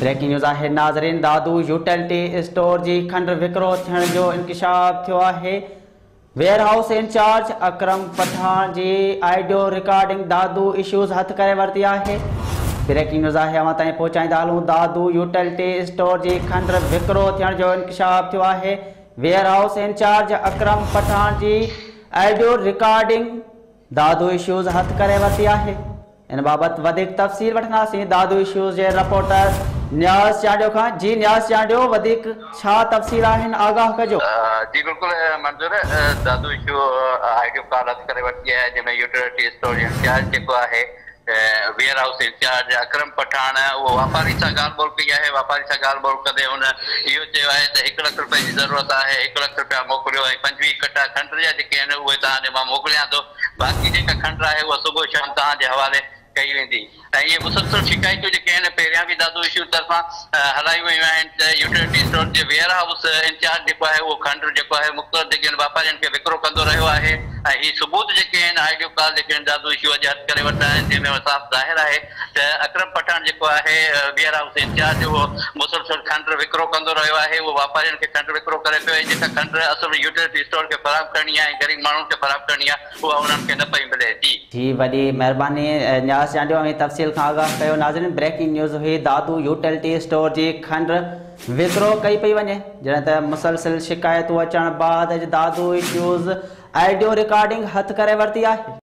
Breaking news آهي ناظرين Dadu utility store جي کنڊ وڪرو ٿيڻ جو انڪشاف ٿيو آهي warehouse incharge Akram Pathan جي آئيڊيو رڪارڊنگ دادو اشوز هٿ ڪري ورتي آهي بريڪنگ نيوز آهي اوهان تائين پهچائيندا هلون دادو يوٽيلٽي اسٽور جي کنڊ وڪرو ٿيڻ جو انڪشاف ٿيو آهي warehouse incharge Akram Pathan جي آئيڊيو رڪارڊنگ دادو ايشوز هٿ ڪري ورتي آهي. ان بابت وڌيڪ تفصيل وٺنداسين دادو ايشوز جي رپورٽر نياز چانڊيو کان جي نياز چانڊيو وڌيڪ ڇا تفصيل آهن آگاهه ڪجو. جي بلڪل Manzoor Dadu issue audio card هٿ ڪري ورتي آهي جنهن ۾ يوٽيلٽي اسٽور انچارج جيڪو آهي warehouse incharge Akram Pathan اهو واپارين سان ڳالهه ٻولهه ڪئي آهي، واپارين سان ڳالهه ٻولهه ڪندي هن اهو چيو آهي ته هڪ لک رپين جي ضرورت آهي، هڪ لک رپيا موڪليو ۽ پنجويهه ڪٽا کنڊ جا جيڪي آهن اهي توهان ڏي مان موڪليان ٿو، باقي جيڪا کنڊ آهي اها صبح شام توهان جي حوالي ڪئي ويندي ۽ اهي مسلسل شڪايتون جيڪي آهن پهريان به دادو اشور طرفان. هلايون ويون آهن ته يوٽيلٽي اسٽور جي ويئر هائوس انچارج جيڪو آهي اهو کنڊ جيڪو آهي مختلف ڊگهين واپارين کي وڪرو ڪندو رهيو آهي ۽ هي ثبوت جيڪي آهن آڊيو ڪال جيڪي آهن دادو ايشو اڄ هٿ ڪري ورتا آهن جنهن ۾ صاف ظاهر آهي ته اڪرم پٺاڻ جيڪو آهي ويئر هائوس انچارج اهو مسلسل کنڊ وڪرو ڪندو رهيو آهي اهو واپارين کي کنڊ وڪرو ڪري پيو ۽ جيڪا کنڊ اصل ۾ يوٽيلٽي اسٽور کي فراهم ڪرڻي آهي ۽ غريب ماڻهن کي فراهم ڪرڻي آهي اها انهن کي نه پئي ملي ٿي. جي وڏي مهرباني نياز چانڊيو اوهين تفصيل کان آگاهه ڪيو ناظرين بريڪنگ نيوز هئي دادو يوٽيلٽي اسٽور جي کنڊ وڪرو ڪئي پئي وڃي جڏهن ته مسلسل شڪايتون اچڻ بعد اڄ دادو اسٽيوز آڊيو رڪارڊنگ هٿ ڪري ورتي آهي.